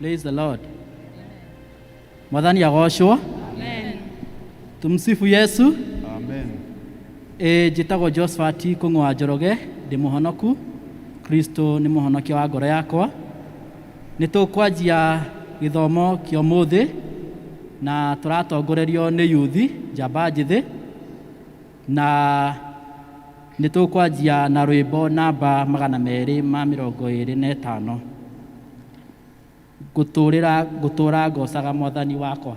Praise the Lord. Mwathani agoocwo. Tumsifu Yesu. Amen. E, njĩtagwo Josephat Kũng'wa Njoroge, ndĩ mũhonoku. Kristo nĩ mũhonokia wa ngoro yakwa. Nĩ tũkwanjia gĩthomo kĩa ũmũthĩ na tũratongorerio nĩ yuthi njamba njĩthĩ. Na nĩ tũkwanjia na rwĩmbo namba magana merĩ ma mĩrongo ĩrĩ na ĩtano ngũtũrĩra ngũtũra ngocaga mwathani wakwa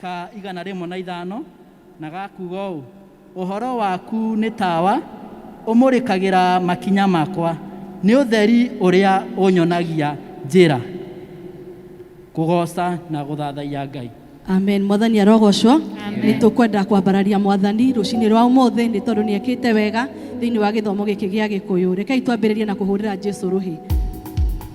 ka igana rĩmwe na ithano, na gakuuga ũũ, Ũhoro waku nĩ tawa ũmũrĩkagĩra makinya makwa, nĩ ũtheri ũrĩa ũnyonagia njĩra. Kũgooca na gũthathaiya Ngai. Amen. Mwathani arogocwo. Nĩ tũkwenda kwambararia Mwathani rũcinĩ rwa ũmũthĩ nĩ tondũ nĩ ekĩte wega thĩinĩ wa gĩthomo gĩkĩ gĩa Gĩkũyũ. Rekei twambĩrĩrie na kũhũrĩra Jesu rũhĩ.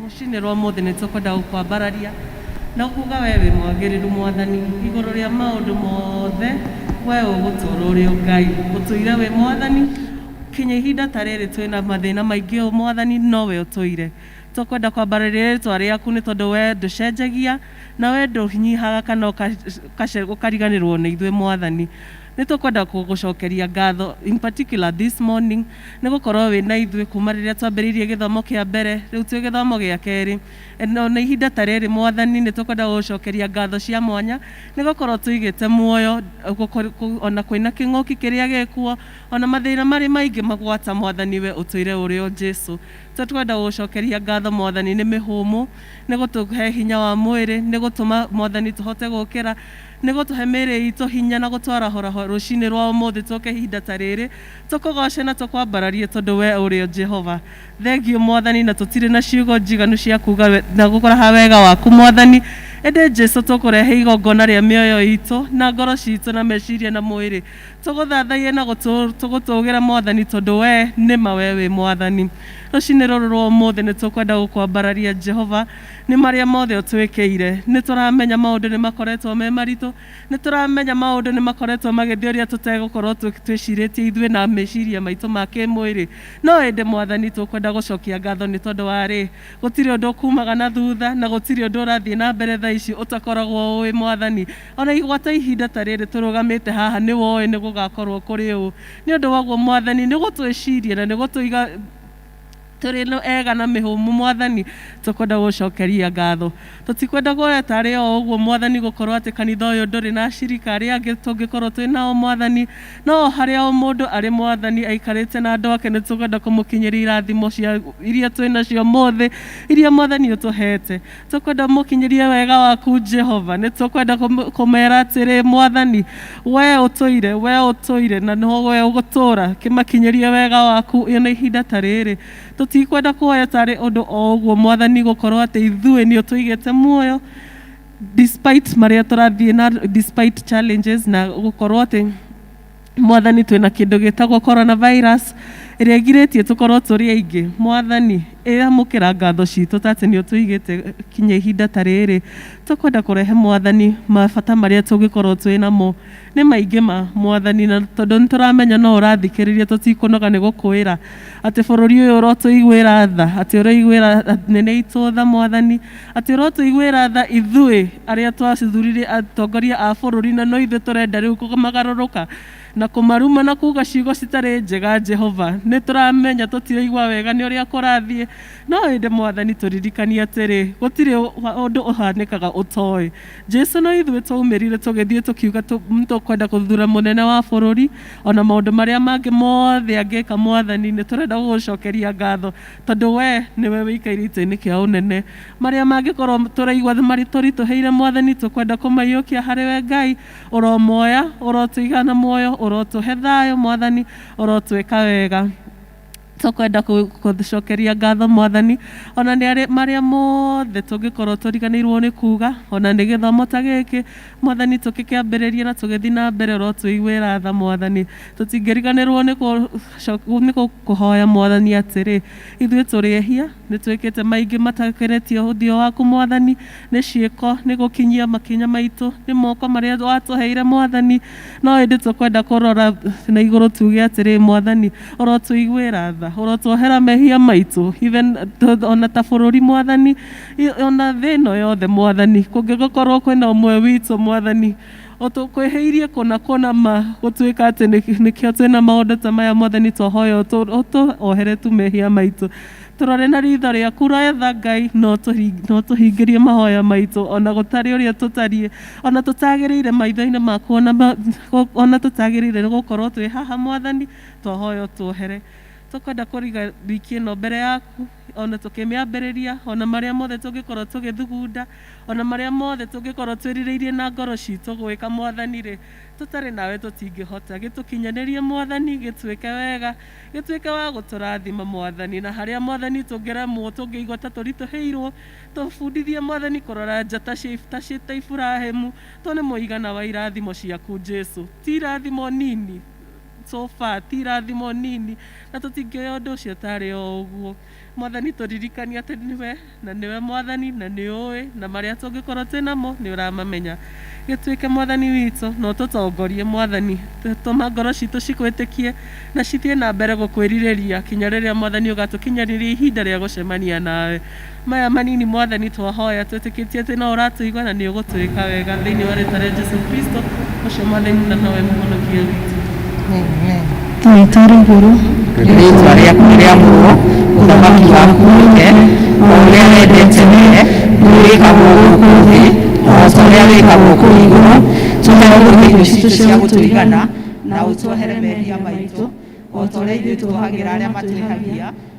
Rũcinĩ rwa ũmũthĩ nĩ tũkwenda gũkwambararia na kuuga wee wĩ mwagĩrĩru, Mwathani, igũrũ rĩa maũndũ mothe, wee ũgũtũũra ũrĩ o Ngai, ũtũire wĩ Mwathani, kinya ihinda ta rĩrĩ twĩ na mathĩna maingĩ ũũ, Mwathani, no we ũtũire. Tũkwenda kwambararia rĩĩtwa rĩaku nĩ tondũ wee ndũcenjagia, na wee ndũnyihaga kana ũkariganĩrwo nĩ ithuĩ, Mwathani. Nĩ tũkwenda kũgũcokeria ngatho in particular this morning nĩ gũkorwo wĩ na ithuĩ kuma rĩrĩa twambĩrĩirie gĩthomo kĩa mbere, rĩu twĩ gĩthomo gĩa kerĩ. And ona ihinda ta rĩrĩ Mwathani nĩ tũkwenda gũgũcokeria ngatho cia mwanya nĩ gũkorwo tũigĩte muoyo ona kwĩ na kĩng'ũki kĩrĩa gĩ kuo, ona mathĩna marĩ maingĩ magwata Mwathani we ũtwĩre ũrĩ o Jesu. Tũkwenda gũgũcokeria ngatho Mwathani nĩ mĩhũmũ, nĩ gũtũhe hinya wa mwĩrĩ, nĩ gũtũma Mwathani tũhote gũkĩra. Nĩ gũtũhe mĩĩrĩ iitũ hinya na gũtwarahũrahũ rũciinĩ rwa ũmũthĩ tũũke ihinda ta rĩĩrĩ, tũkũgooce na tũkwambararie tondũ wee ũrĩ o Jehova. Thengiũ Mwathani, na tũtirĩ na ciugo njiganu cia kuuga na gũkũraha wega waku Mwathani, ĩndĩ Jesũ tũkũrehe igongona rĩa mĩoyo iitũ na ngoro ciitũ na meciiria na mwĩĩrĩ, tũgũthathaiye na gũtũũgĩra Mwathani tondũ wee, nĩ ma wee wĩ Mwathani. Rũciinĩ rũrũ rwa ũmũthĩ nĩ tũkwenda gũkwambararia Jehova, Nĩ marĩa mothe ũtwĩkĩire. Nĩ tũramenya maũndũ nĩ makoretwo me maritũ. Nĩ tũramenya maũndũ nĩ makoretwo magĩthiĩ ũrĩa tũtegũkorwo twĩcirĩtie ithuĩ na meciria maitũ ma kĩĩmwĩrĩ. No ĩndĩ Mwathani, tũkwenda gũcokia ngatho nĩ tondũ wa rĩ? Gũtirĩ ũndũ ũkumaga na thutha, na gũtirĩ ũndũ ũrathiĩ na mbere thaa ici ũtakoragwo ũĩ, Mwathani. O na igwata ihinda ta rĩrĩ tũrũgamĩte haha, nĩ woĩ nĩ gũgakorwo kũrĩ ũũ. Nĩ ũndũ wa ũguo, Mwathani, nĩ gũtwĩciria na nĩ gũtũiga, Tũrĩ nũ ega na mĩhũmũ, Mwathani, tũkwenda gũgũcokeria ngatho. Tũtikwenda kũweta arĩ o ũguo, Mwathani, gũkorwo atĩ kanitha ũyũ ndũrĩ na acirika arĩa angĩ tũngĩkorwo twĩ nao, Mwathani. No o harĩa o mũndũ arĩ, Mwathani, aikarĩte na andũ ake, nĩtũkwenda kũmũkinyĩria irathimo cia, iria twĩ nacio ũmũthĩ, iria, Mwathani, ũtũheete. tũkwenda mũkinyĩrie wega waku jehova nĩ tũkwenda kũm- kũmera atĩrĩ mwathani we ũtũire we ũtũire na no we ũgũtũra kĩmakinyĩrie wega waku ĩna ihinda ta rĩrĩ tũtikwenda kuoya tarĩ ũndũ o ũguo mwathani gũkorwo atĩ ithuĩ nĩ ũtũigĩte muoyo despite marĩa tũrathiĩ na despite challenges na gũkorwo atĩ mwathani twĩ na kĩndũ gĩtagwo coronavirus ĩrĩa ĩgirĩtie tũkorwo tũrĩ aingĩ mwathani ĩamũkĩra ngatho citũ ta atĩ nĩ ũtũigĩte kinya ihinda ta rĩrĩ tũkwenda kũrehe mwathani mabata marĩa tũngĩkorwo twĩ namo nĩ maingĩ ma mwathani na tondũ nĩ tũramenya no ũrathikĩrĩria tũtikũnoga nĩ gũkwĩra atĩ bũrũri ũyũ ũrotũiguĩra tha atĩ ũrĩiguĩra nene itũ tha mwathani Atĩ ũrotũiguĩra tha ithuĩ arĩa twacithurire atongoria a bũrũri na no ithuĩ tũrenda rĩu kũmagarũrũka na kũmaruma na kuuga ciugo citarĩ njega Jehova. Nĩ tũramenya tũtiraigua wega nĩ ũrĩa kũrathiĩ, no ĩndĩ Mwathani tũririkanie atĩrĩ, gũtirĩ ũndũ ũhanĩkaga ũtoĩ. Jesu no ithuĩ twaumĩrire tũgĩthiĩ tũkiuga nĩ tũkwenda gũthura mũnene wa bũrũri, o na maũndũ marĩa mangĩ mothe angĩka Mwathani, nĩ tũrenda gũgũcokeria ngatho Tondũ wee nĩwe ũikaire itĩ-inĩ kĩa ũnene. Marĩa mangĩkorwo tũraigua marĩ tũritũhĩire Mwathani, tũkwenda kũmaiyũkia harĩ we Ngai. Ũromoya, ũrotũiga na muoyo, ũrotũhe thayũ Mwathani, ũrotwĩka wega. Tũkwenda kũgũcokeria ngatho Mwathani, o na nĩ marĩa mothe tũngĩkorwo tũriganĩirwo nĩ kuuga, o na nĩ gĩthomo ta gĩkĩ Mwathani tũkĩkĩambĩrĩria na tũgĩthiĩ na mbere, ũrotũiguĩra tha Mwathani. Tũtingĩriganĩrwo nĩ kũ- Coka nĩ gũkũhoya Mwathani atĩrĩ, Ithuĩ tũrĩ ehia, nĩ twĩkĩte maingĩ matakenetie ũthiũ waku Mwathani, nĩ ciĩko, nĩ gũkinyia makinya maitũ, nĩ moko marĩa watũheire Mwathani, no ĩndĩ tũkwenda kũrora na igũrũ tuge atĩrĩ, Mwathani, ũrotũiguĩra tha, ũrotuohera mehia maitũ, even ona ta bũrũri Mwathani, ona thĩ ĩno yothe Mwathani, kũngĩgĩkorwo kwĩna ũmwe witũ Mwathani, O tũkwĩhĩirie kũna kũna ma gũtuĩka atĩ nĩ- nĩkĩo twĩ na maũndũ ta maya mothe nĩ twahoya ũtũ- ũtũohere tu mehia maitũ tũrore na ritho rĩaku retha Ngai na ũtũhi- na ũtũhingĩrie mahoya maitũ ona gũtarĩ ũrĩa tũtariĩ ona tũtagĩrĩire maitho-inĩ maku ona ma- gũ- ona tũtagĩrĩire nĩ gũkorwo twĩ haha mwathani twahoya ũtũohere tũkwenda kũriga wiki ĩno mbere yaku. o na tũkĩmĩambĩrĩria, o na marĩa mothe tũngĩkorwo tũgĩthugunda, o na marĩa mothe tũngĩkorwo twĩrirĩirie na ngoro ciitũ gwĩka, Mwathani-rĩ, tũtarĩ nawe tũtingĩhota. Gĩtũkinyanĩrie, Mwathani, gĩtwĩke wega, gĩtwĩke wa gũtũrathima, Mwathani, na harĩa, Mwathani, tũngĩremwo, tũngĩigua ta tũritũhĩirwo, tũbundithie, Mwathani, kũrora nja ta cia, ta Iburahimu, tuone mũigana wa irathimo ciaku, Jesu. Ti irathimo nini. so far ti irathimo nini na tũtingĩoya ũndũ ũcio tarĩ o ũguo. Mwathani tũririkanie atĩ nĩwe na nĩwe mwathani na nĩ ũĩ na marĩa tũngĩkorwo twĩ namo nĩ ũramamenya. Gĩtuĩke mwathani witũ na ũtũtongorie mwathani. Tũma ngoro citũ cikwĩtĩkie na cithiĩ na mbere gũkwĩrirĩria kinya rĩrĩa mwathani ũgatũkinyaniria ihinda rĩa gũcemania nawe. Maya manini Mwathani twahoya twĩtĩkĩtie atĩ no ũratũigua na nĩ ũgũtwĩka wega thĩinĩ wa rĩtwa rĩa Jesu Kristo ũcio Mwathani na nowe mũhonokia witũ. Twaita rĩ igũrũ rĩĩtwa rĩaku nĩ rĩamũrwo ũthamaki waku ũke o ũrĩa wendete wee nĩwĩkagwo gũkũ thĩ o ta ũrĩa wĩkagwo kũu igũrũ tũhe ũmũthĩ irio citũ cia gũtũigana na ũtuohere mehia maitũ o ta ũrĩa ithuĩ tuohagĩra arĩa matwĩhagia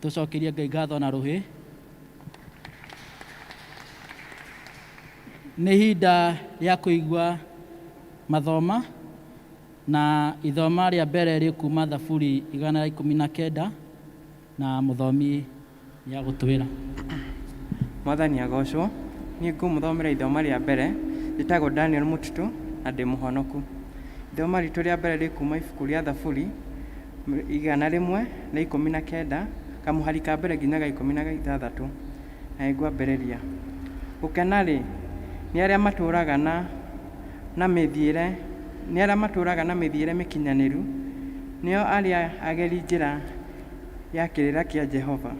Tũcokerie Ngai ngatho na rũhĩ. Nĩ ihinda rĩa kũigua mathoma na ithoma rĩa mbere rĩkuma Thaburi igana rĩa ikũmi na kenda na mũthomi nĩ agũtwĩra. Mwathani agocwo. Niĩ ngũmũthomera ithoma rĩa mbere. Njĩtagwo Daniel Mũtitũ na ndĩ mũhonoku. Ithoma ritũ rĩa mbere rĩkuma ibuku rĩa Thaburi igana rĩmwe rĩa ikũmi na kenda, kamũhari ka mbere nginya ga ikũmi na ithathatũ, na nĩngwambĩrĩria. Gũkena-rĩ, nĩ arĩa matũũraga na, na mĩthiĩre, nĩ arĩa matũũraga na mĩthiĩre mĩkinyanĩru, nĩo arĩa ageri njĩra ya kĩrĩra kĩa Jehova.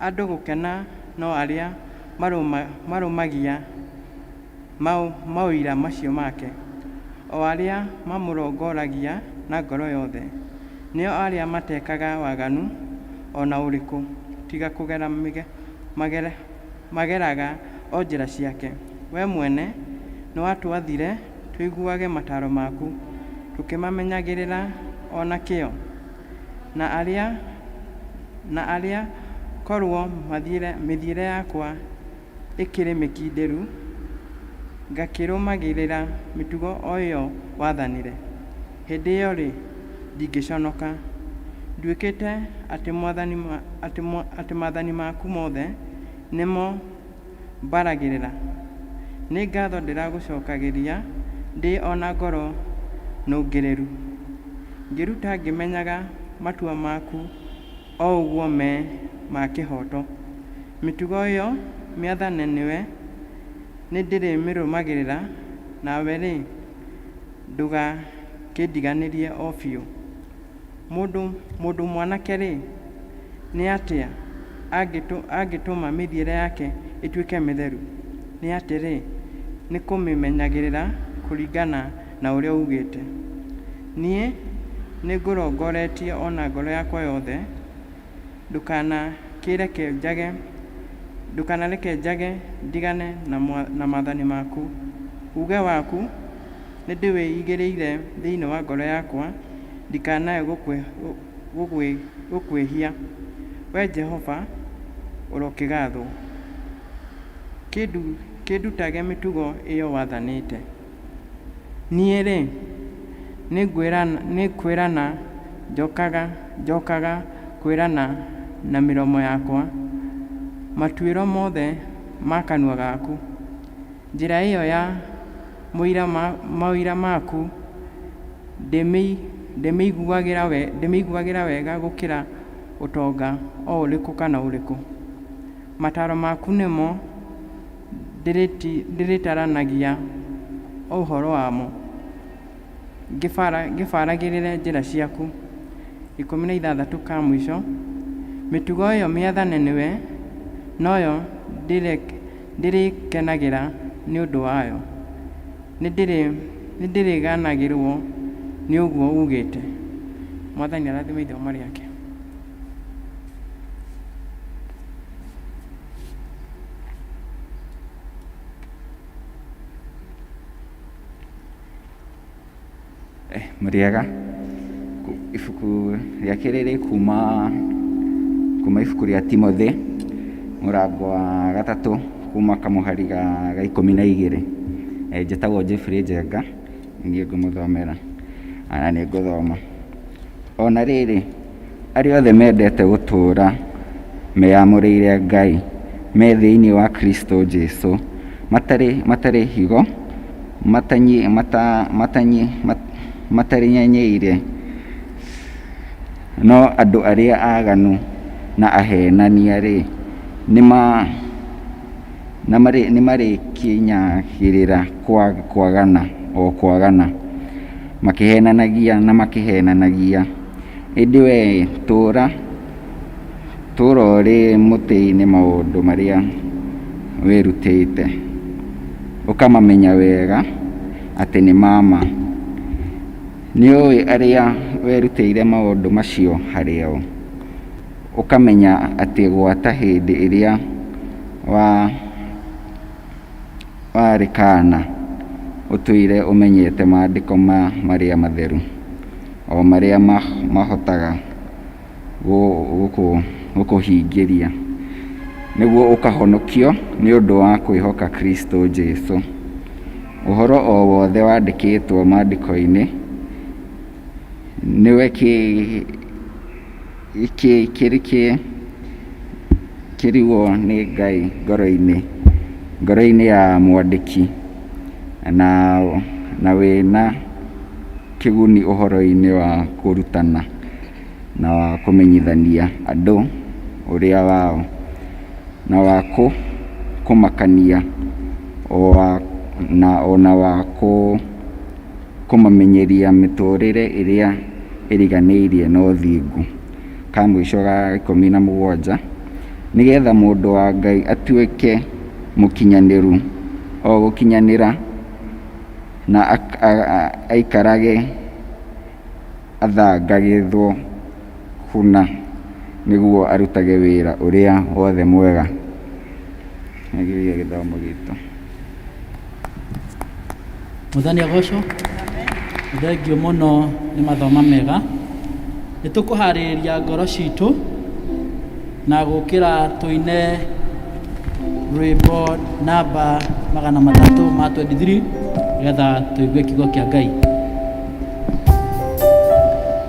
Andũ gũkena no arĩa marũma, marũmagia. Mau maũira macio make, o arĩa mamũrongoragia na ngoro yothe, nĩo arĩa matekaga waganu o na ũrĩkũ, tiga kũgera mĩge, mageraga o njĩra ciake. Wee mwene nĩwatwathire tũiguage mataaro maku, tũkĩmamenyagĩrĩra o na kĩyo, na arĩa, na arĩa korwo mathiĩre, mĩthiĩre yakwa, ĩkĩrĩ mĩkindĩru, ngakĩrũmagĩrĩra mĩtugo o ĩyo wathanire, hĩndĩ ĩyo-rĩ, ndingĩconoka. Nduĩkĩte atĩ mwathani, atĩ, atĩ maathani maku mothe nĩmo mbaragĩrĩra. Nĩ ngatho ndĩragũcokagĩria ndĩ o na ngoro nũngĩrĩru, ngĩruta ngĩmenyaga matua maku. O ũguo me ma kĩhooto. Mĩtugo ĩyo mĩathane nĩwe, nĩndĩrĩmĩrũmagĩrĩra, nawe-rĩ, ndũgakĩndiganĩrie o biũ. Mũndũ mũndũ mwanake-rĩ, nĩ atĩa angĩtũma mĩthiĩre yake ĩtuĩke mĩtheru? Nĩ atĩrĩ, nĩkũmĩmenyagĩrĩra kũringana Na ũrĩa uugĩte, Niĩ nĩngũrongoretie o na ngoro yakwa yothe, ndũkanakĩreke njage, ndũkanareke njage ndigane na mwa, na maathani maku. Uuge waku nĩndĩwĩigĩrĩire thĩinĩ wa ngoro yakwa, ndikanae gũkwĩ, gũgwĩ, gũkwĩhia. Wee Jehova, ũrokĩgaathwo. Kĩndu, kĩndutage mĩtugo ĩyo wathanĩte. Niĩ-rĩ, nĩkwĩrana njokaga, njokaga kwĩrana na mĩromo yakwa, matuĩro mothe ma kanua gaku. Njĩra ĩyo ya maũira maku ndĩmĩiguagĩra wega gũkĩra ũtonga o ũrĩkũ kana ũrĩkũ. Mataro maku nĩmo Ndĩrĩtaranagia ũhoro wamo, ngĩbaragĩrĩre njĩra ciaku. Ikũmi na ithathatũ ka mũico, Mĩtugo ĩyo mĩathane nĩwe, noyo ndĩrĩkenagĩra nĩ ũndũ wayo. Nĩndĩrĩganagĩrwo nĩ ũguo ugĩte. Mwathani arathime ithe ũmarĩ ake. murĩega ibuku rĩa kerĩ rĩ kuma kuma ibuku rĩa Timothy mũrango wa gatatũ kuma kamũhari ga ikũmi na igĩrĩ njĩtagwo Jeffrey Njenga Ningĩ ngũmũthomera ana nĩ ngũthoma o na rĩrĩ arĩa othe mendete gũtũũra meyamũrĩire Ngai me thĩinĩ wa Kristo Jesu matarĩ matarĩ higo matanyi mata matanyi matarĩ nyenyeire no andũ arĩa aganu na ahenania rĩ nĩma Na nĩmarĩkinyagĩrĩra kwagana o kwagana, makĩheenanagia na makĩheenanagia. Ĩndĩ wee tũũra, tũũra ũrĩ mũtĩ-inĩ maũndũ marĩa wĩrutĩte, ũkamamenya wega atĩ nĩ ma ma. Nĩũũĩ arĩa werutĩire maũndũ macio harĩ o. Ũkamenya atĩ gwata hĩndĩ ĩrĩa wa warĩ kaana ũtũire ũmenyete maandĩko ma marĩa matheru, o marĩa mahotaga gũkũhingĩria, nĩguo ũkahonokio nĩ ũndũ wa kwĩhoka Kristo Jesu. Ũhoro o wothe wandĩkĩtwo maandĩko-inĩ nĩwe kĩ... Gĩkĩ kĩrĩ kĩ kĩrigwo nĩ Ngai ngoro-inĩ, ngoro-inĩ ya mwandĩki na na wĩna kĩguni ũhoro-inĩ wa kũrutana na wa kũmenyithania andũ ũrĩa wao, na wa kũmakania, na ona wa kũ... kũmamenyeria mĩtũrĩre ĩrĩa ĩriganĩirie na ũthingu, ka mũico ga ikũmi na mũgwanja, nĩ getha mũndũ wa Ngai atuĩke mũkinyanĩru, o gũkinyanĩra na aikarage athangagĩthwo kũna, nĩguo arutage wĩra ũrĩa wothe mwega. Mwathani agocwo. Thengiũ mũno nĩ mathoma mega. Nĩ tũkũharĩrĩria ngoro citũ na gũkĩra tũine rwĩmbo namba magana matatũ ma 23 nĩgetha tũigue kiugo kĩa Ngai.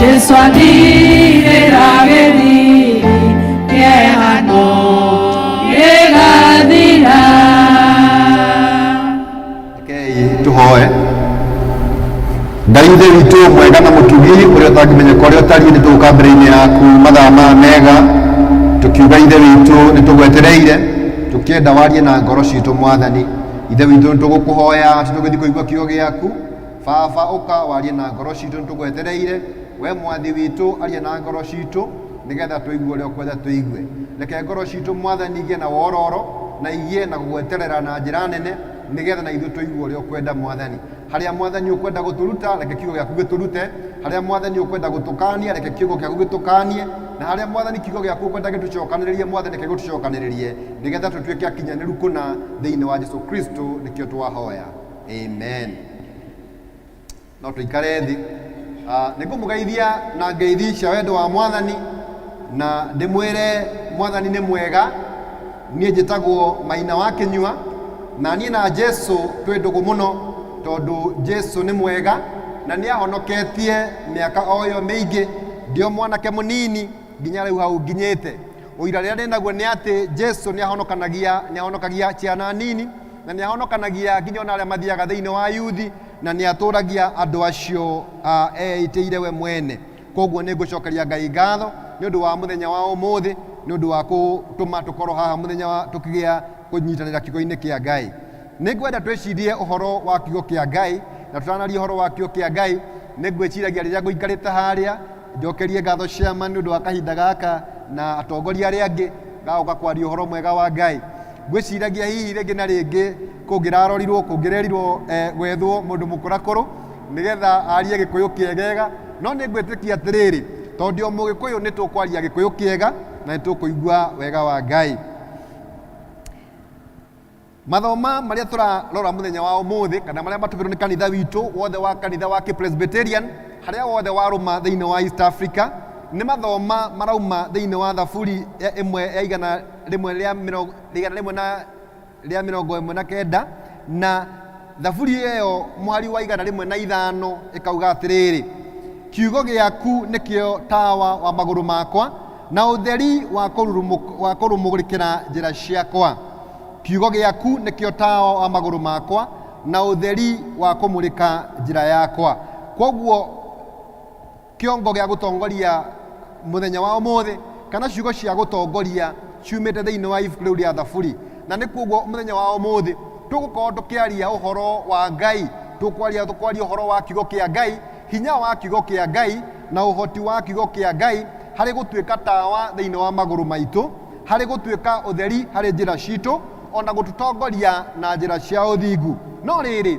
Jesu athirĩra gĩthiĩ kĩehano gĩgathira. Rekei tũhoe ngai ithe witũ mwega na mũtugi ũrĩa ũtangĩmenyeka ũrĩa ũtariĩ nĩ tũgũka mbere-inĩ yaku mathaa ma mega tũkiuga ithe witũ nĩ tũgwetereire tũkĩenda warie na ngoro citũ mwathani ithe witũ nĩ tũgũkũhoya atĩ tũgĩthiĩ kũigua kiugo gĩaku Baba, ũka warie na ngoro citũ nĩtũgwetereire. Wee Mwathi witũ, aria na ngoro citũ, nĩgetha tũigue ũrĩa ũkwenda tũigue. Reke ngoro citũ, Mwathani, igĩe na wororo, na igĩe na gũgweterera na njĩra nene, nĩgetha na ithuĩ tũigue ũrĩa ũkwenda, Mwathani. Harĩa, Mwathani, ũkwenda gũtũruta, reke Kiugo gĩaku gĩtũrute. Harĩa, Mwathani, ũkwenda gũtũkaania, reke Kiugo gĩaku gĩtũkaanie. Na harĩa, Mwathani, Kiugo gĩaku ũkwenda gĩtũcokanĩrĩrie, Mwathani, reke gĩtũcokanĩrĩrie, nĩgetha tũtuĩke akinyanĩru kũna, thĩinĩ wa Jesu Kristo nĩkĩo twahoya. amen no tũikare thĩ Ah, nĩ ngũmũgeithia na ngeithi cia wendo wa mwathani na ndĩmwĩre mwathani nĩ mwega niĩ njĩtagwo maina wa kĩnyua na niĩ na jesu twĩ ndũgũ mũno tondũ jesu nĩ mwega na nĩ ahonoketie mĩaka o ĩyo mĩingĩ ndĩ o mwanake mũnini nginya rĩu hau nginyĩte ũira rĩrĩa ndĩ naguo nĩ atĩ jesu nĩ ahonokanagia nĩ ahonokagia ciana nini Na nĩ ahonokanagia nginya o na arĩa mathiaga thĩinĩ wa Ayuthi, na nĩ atũũragia andũ acio a eĩtĩire we mwene. Kwoguo nĩ ngũcokeria Ngai ngatho nĩ ũndũ wa mũthenya wa ũmũthĩ, nĩ ũndũ wa kũtũma tũkorũo haha mũthenya wa, tũkĩgĩa kũnyitanĩra Kiugo-inĩ kĩa Ngai. Nĩ ngwenda twĩcirie ũhoro wa Kiugo kĩa Ngai, na tũtanaria ũhoro wa Kiugo kĩa Ngai, nĩ ngwĩciragia rĩrĩa ngũikarĩte harĩa, Njokerie ngatho ciama nĩ ũndũ wa kahinda gaka na atongoria arĩa angĩ gagoka kwaria ũhoro mwega wa Ngai. Ngwĩciragia hihi rĩngĩ na rĩngĩ kũngĩrarorirwo kũngĩrerirwo eh, gwethwo mũndũ mũkũrakũrũ nĩgetha arie gĩkũyũ kĩegega no nĩ ngwĩtĩkia atĩrĩrĩ tondũ ndĩ o mũgĩkũyũ nĩ tũkwaria gĩkũyũ kĩega na nĩ tũkũigua wega wa Ngai. Mathoma marĩa tũrarora mũthenya wa ũmũthĩ kana marĩa matũmĩrwo nĩ kanitha witũ wothe wa kanitha wa Kĩpresbyterian harĩa wothe warũma thĩinĩ wa East Africa nĩ mathoma marauma thĩinĩ wa thaburi ya ĩmwe ya igana rĩmwe rĩa mĩrongo igana rĩmwe na rĩa mĩrongo ĩmwe na kenda na Thaburi ĩyo mũhari wa igana rĩmwe na ithano ĩkauga atĩrĩrĩ, Kiugo gĩaku nĩkĩo tawa wa magũrũ makwa na ũtheri wa kũrurumũk- wa kũrũmũrĩkĩra njĩra ciakwa. Kiugo gĩaku nĩkĩo tawa wa magũrũ makwa na ũtheri wa kũmũrĩka njĩra yakwa. Kwoguo Kĩongo gĩa gũtongoria mũthenya wa ũmũthĩ, kana ciugo cia gũtongoria ciumĩte thĩinĩ wa ibuku rĩu rĩa Thaburi. Na nĩ kuoguo mũthenya wa ũmũthĩ tũgũkorwo tũkĩaria ũhoro wa Ngai, tũkwaria tũkwaria ũhoro wa kiugo kĩa Ngai, hinya wa kiugo kĩa Ngai na ũhoti wa kiugo kĩa Ngai harĩ gũtuĩka tawa thĩinĩ wa magũrũ maitũ, harĩ gũtuĩka ũtheri harĩ njĩra citũ, ona gũtũtongoria na njĩra cia ũthingu. No rĩrĩ,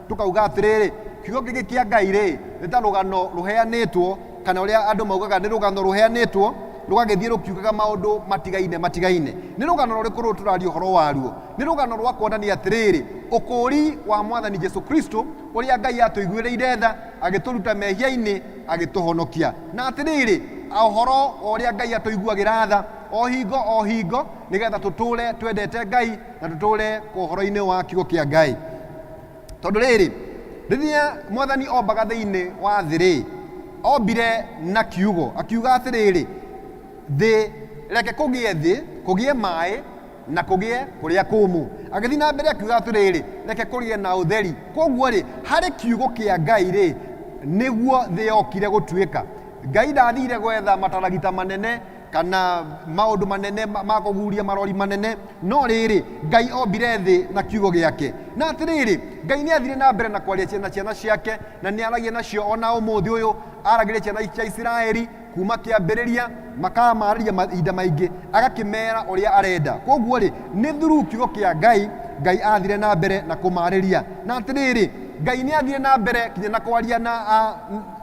tũkauga atĩrĩrĩ kiugo gĩkĩ kĩa ngai rĩ nĩ ta rũgano rũheanĩtwo kana ũrĩa andũ maugaga nĩ rũgano rũheanĩtwo rũgagĩthiĩ rũkiugaga maũndũ matigaine matigaine nĩ rũgano rũrĩkũ rũrũ tũraria ũhoro waruo nĩ rũgano rwa kuonania atĩrĩrĩ ũkũũri wa mwathani jesu kristo ũrĩa ngai atũiguĩrĩire tha agĩtũruta mehia-inĩ agĩtũhonokia na atĩrĩrĩ ũhoro wa ũrĩa ngai atũiguagĩra tha o hingo o hingo nĩgetha tũtũũre twendete ngai na tũtũũre ũhoro-inĩ wa kiugo kĩa ngai tondũ rĩrĩ rĩrĩa mwathani ombaga thĩinĩ wa thĩ rĩ ombire na kiugo akiuga atĩrĩrĩ thĩ reke kũgĩe thĩ kũgĩe maĩ na kũgĩe kũrĩa kũmũ agĩthiĩ na mbere akiuga atĩrĩrĩ reke kũgĩe na ũtheri koguo rĩ harĩ kiugo kĩa ngai rĩ nĩguo thĩ yokire gũtuĩka ngai ndathire gwetha mataragita manene kana maundu manene ma ma kuguria marori manene no riri ngai ombire thi na kiugo giake na atiriri ngai ni athire na mbere na kwaria ciana ciana ciake na ni aragia nacio ona umuthi uyu aragiria ciana cia isiraeli kuma kiambiriria makamariria mahinda maingi agakimera uria arenda koguo ri ni thuru kiugo kia ngai ngai athire na mbere na kumariria na atiriri ngai ni athire na mbere kinya na kwaria na a-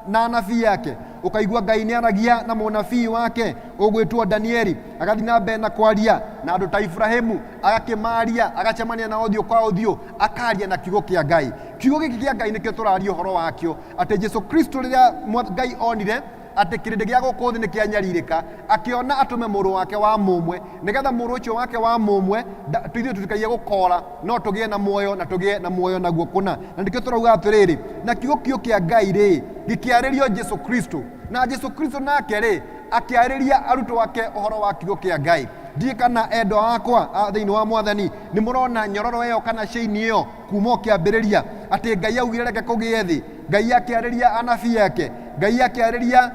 na anabii ake ũkaigua ngai nĩ aragia na mũnabii wake ũgwĩtwo danieli agathiĩ na mbere na kwaria na andũ ta iburahimu agakĩmaria agacemania na ũthiũ kwa ũthiũ akaria na kiugo kĩa ngai kiugo gĩkĩ kĩa ngai nĩkĩo tũraria ũhoro wakĩo atĩ jesu kristo rĩrĩa mwa- ngai onire atĩ kĩrĩndĩ gĩa gũkũ thĩ nĩ kĩanyarirĩka akĩona atũme mũrũ wake wa mũmwe nĩgetha mũrũ ũcio wake wa mũmwe nda- tu- ithuĩ tũtikaie gũkora no tũgĩe na muoyo na tũgĩe na muoyo naguo kũna na nĩkĩo tũrauga atĩrĩrĩ na kiugo kĩo kĩa ngai rĩ gĩkĩarĩrio jesu kristo na jesu kristo nake rĩ akĩarĩria arutwo ake ũhoro wa kiugo kĩa ngai ndiĩ kana endwa akwa a thĩinĩ wa mwathani nĩ mũrona nyororo ĩyo kana cĩini ĩyo kuma o kĩambĩrĩria atĩ ngai augire reke kũgĩe thĩ ngai akĩarĩria anabii ake ngai akĩarĩria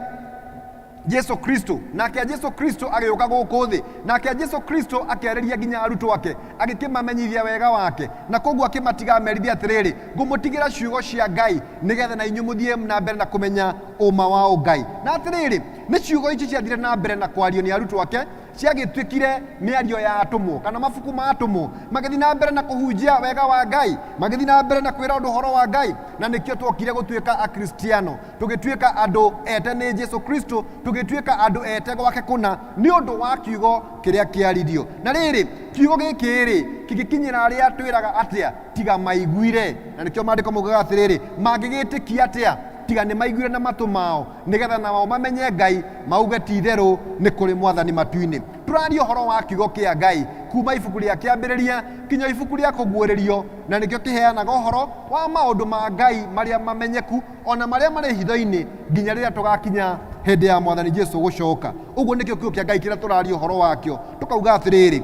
jesu kristo nake a jesu kristo agĩũka gũkũ thĩ nake a jesu kristo akĩarĩria nginya arutwo ake agĩkĩmamenyithia wega wake na koguo akĩmatiga amerithia atĩrĩrĩ ngũmũtigĩra ciugo cia ngai nĩgetha na inyuĩ mũthiĩ na mbere na kũmenya ũma wa ũngai na atĩrĩrĩ nĩ ciugo ici ciathire na mbere na kwario nĩ arutwo ake ciagĩtuĩkire mĩario ya atũmwo kana mabuku ma atũmwo magĩthiĩ na mbere na kũhunjia wega wa ngai magĩthiĩ na mbere na kwĩra andũ ũhoro wa ngai na nĩkĩo twokire gũtuĩka akristiano tũgĩtuĩka andũ ete nĩ jesu kristo tũgĩtuĩka andũ ete gwake kũna nĩ ũndũ wa kiugo kĩrĩa kĩaririo na rĩrĩ kiugo gĩkĩ rĩ kĩngĩkinyĩra arĩa twĩraga atĩa tiga maiguire na nĩkĩo maandĩko maugaga atĩrĩrĩ mangĩgĩtĩkia atĩa tiga nĩ maiguire na matũ mao nĩgetha nao mamenye ngai mauge ti itherũ nĩ kũrĩ mwathani matu-inĩ tũraria ũhoro wa kiugo kĩa ngai kuma ibuku rĩa kĩambĩrĩria kinya ibuku rĩa kũguũrĩrio na nĩkĩo kĩheanaga ũhoro wa maũndũ ma ngai marĩa mamenyeku o na marĩa marĩ hitho-inĩ nginya rĩrĩa tũgakinya hĩndĩ ya mwathani Jesu gũcoka. Ũguo nĩkĩo kiugo kĩa Ngai kĩrĩa tũraria ũhoro wakĩo. Tũkauga atĩrĩrĩ,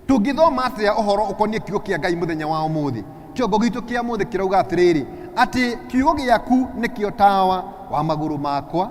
tũngĩthoma atĩa ũhoro ũkoniĩ kiugo kĩa Ngai mũthenya wa ũmũthĩ? Kĩongo gitũ kĩa mũthĩ kĩrauga atĩrĩrĩ, atĩ kiugo gĩaku nĩkĩo tawa wa magũrũ makwa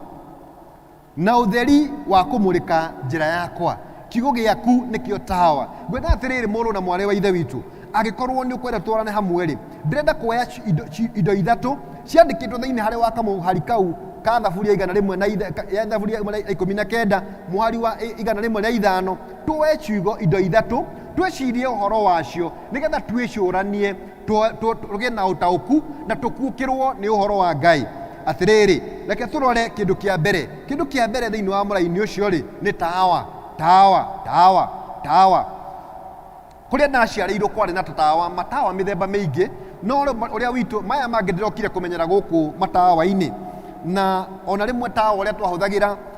Na ũtheri wa kũmũrĩka njĩra yakwa. Kiugo gĩaku nĩkĩo tawa. Ngwenda atĩrĩrĩ mũrũ na mwarĩ wa Ithe witũ, angĩkorwo nĩ ũkwenda twarane hamwe-rĩ, ndĩrenda kuoya ci- indo, ci- indo ithatũ ciandĩkĩtwo thĩinĩ harĩ wa kamũhari kau ka thaburia igana rĩmwe na itha- ka- ya thaburia ĩmwe na ikũmi na kenda mũhari wa i- igana rĩmwe rĩa ithano tuoe ciugo indo ithatũ twĩcirie ũhoro wacio nĩgetha twĩcũranie tũ- tũ- tũgĩe na ũtaũku na tũkuũkĩrwo nĩ ũhoro wa ngai atĩrĩrĩ reke tũrore kĩndũ kĩa mbere kĩndũ kĩa mbere thĩinĩ wa mũraini ũcio rĩ nĩ tawa tawa tawa tawa kũrĩa ndaciarĩirwo kwarĩ na tũtawa matawa mĩthemba mĩingĩ no ũrĩa- ũrĩa witũ maya mangĩ ndĩrokire kũmenyera gũkũ matawa-inĩ na ona rĩmwe tawa ũrĩa twahũthagĩra